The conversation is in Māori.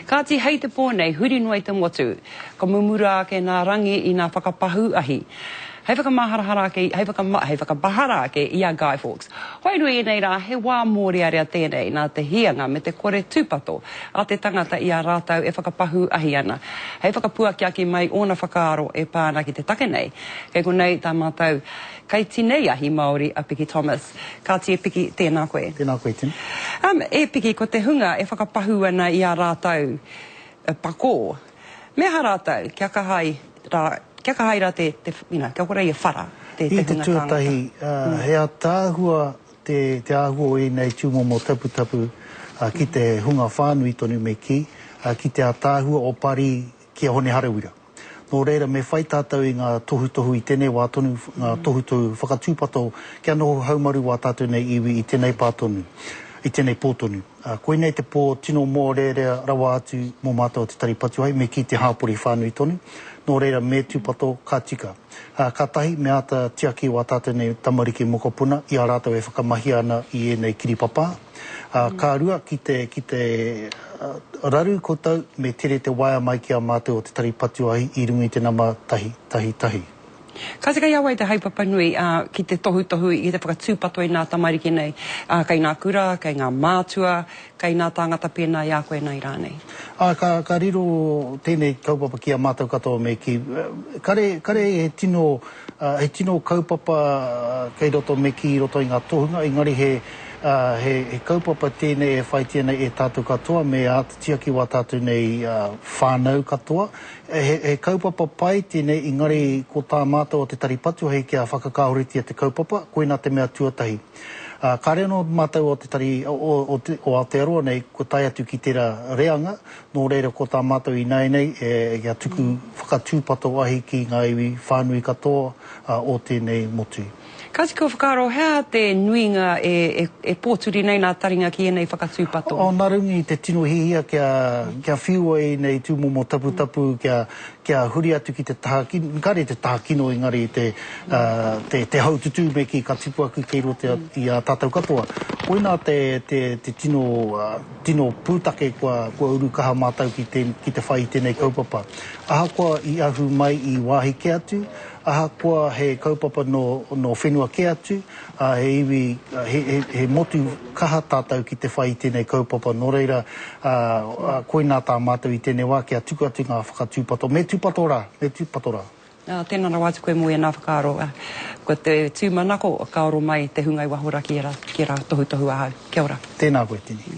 Kāti hei te pō nei huri noa i te motu, ka mumura ake nā Rangi i nā whakapahū ahi. Hei whakamaharahara ake, hei whakama, hei whakamahara ake i a Guy Fawkes. Wairua i ēnei rā, he wā mōrearea tēnei nā te hīanga me te kore tūpato a te tangata i a rātau e whakapahū ahi ana. Hei whakapuakiaki mai ōna whakaaro e pā ana ki te take nei, kei konei tā mātau. Kei tenei ahi Māori a Piki Thomas. Kāti e Piki, tēnā koe. Tēnā koe, Tim. Um, e Piki, ko te hunga e whakapahū ana i a rātou uh, pakō. Me aha rātou, kia kaha ai rā, kia kaha ai rā te, te, you know, kia kore i a whara te, te hunga tāngata. I te tuatahi, uh, he ataahua te, te āhua o ēnei tūmomo taputapu uh, ki te hunga whānui tonu me kī, uh, ki te ataahua o Pari ki a Hone Harawira. Nō reira, me whai tātou i ngā tohutohu i tēnei wā tonu, ngā tohutohu whakatūpato kia noho haumaru wā tātou nei iwi i tēnei pā tonu, i tēnei pō tonu. Koinei te pō tino mōrearea rawa atu mō mātou o Te Tari Patuahi, me kī te hāpori whānui tonu. Nō reira, me tūpato, ka tika. Ka tahi, me āta tiaki wā tātou nei tamariki mokopuna i a rātou e whakamahia ana i ēnei kiripapā. Ā, ka rua ki te, ki te raru koutou me tere te waea mai ki a mātou o te tari patuahi i runga i te nama tahi, tahi, tahi. Ka tika i a wai te haepapa nui, ā, ki te tohutohu, ki te whakatūpato i nā tamariki nei, ā, kei ngā kura, kei ngā mātua, kei nā tāngata pēnā i a koe nei rānei? Ā, ka, ka riro tēnei kaupapa ki a mātou katoa me kī, kare, kare he tino. He tino kaupapa kei roto me kī i roto i ngā tohunga, engari he kaupapa tēnei e whaitia nei e tātou katoa me āta tiaki wā tātou nei whānau katoa. He kaupapa pai tēnei, engari ko tā mātou o te Tari Patu hei kia whakakāhoretia te kaupapa, koinā te mea tuatahi. Kāre anō mātou o te Tari o Aotearoa nei kua tae atu ki tērā reanga, Nō reira ko tā mātou ināianei e kia tuku whakatūpato ahi ki ngā iwi whānui katoa o tēnei motu. Kāti kua whakaaro he aha te nuinga e pōturi nei nā taringa ki ēnei whakatūpato? Oh nā runga i te tino hiahia kia whiua i ēnei tūmomo taputapu kia huri atu ki te taha kino, kāre te taha kino engari te haututū me kī ka tipu aku kei roto i a tātou katoa. Koinā te tino Tino pūtake kua uru kaha mātou ki te whai i tēnei kaupapa. Ahakoa i ahu mai i wāhi kē atu, ahakoa he kaupapa nō whenua kē atu, he iwi, he motu kaha tātou ki te whai i tēnei kaupapa. Nō reira, koinā tā mātou i tēnei wā kia tuku atu ngā whakatūpato. Me tūpato rā! Me tūpato rā! Tēnā rawa atu koe mō ēnā whakaaro. Ko te tūmanako ka oro mai te hunga i waho ra ki ērā tohutohu ahau. Kia ora. Tēnā koe Tini.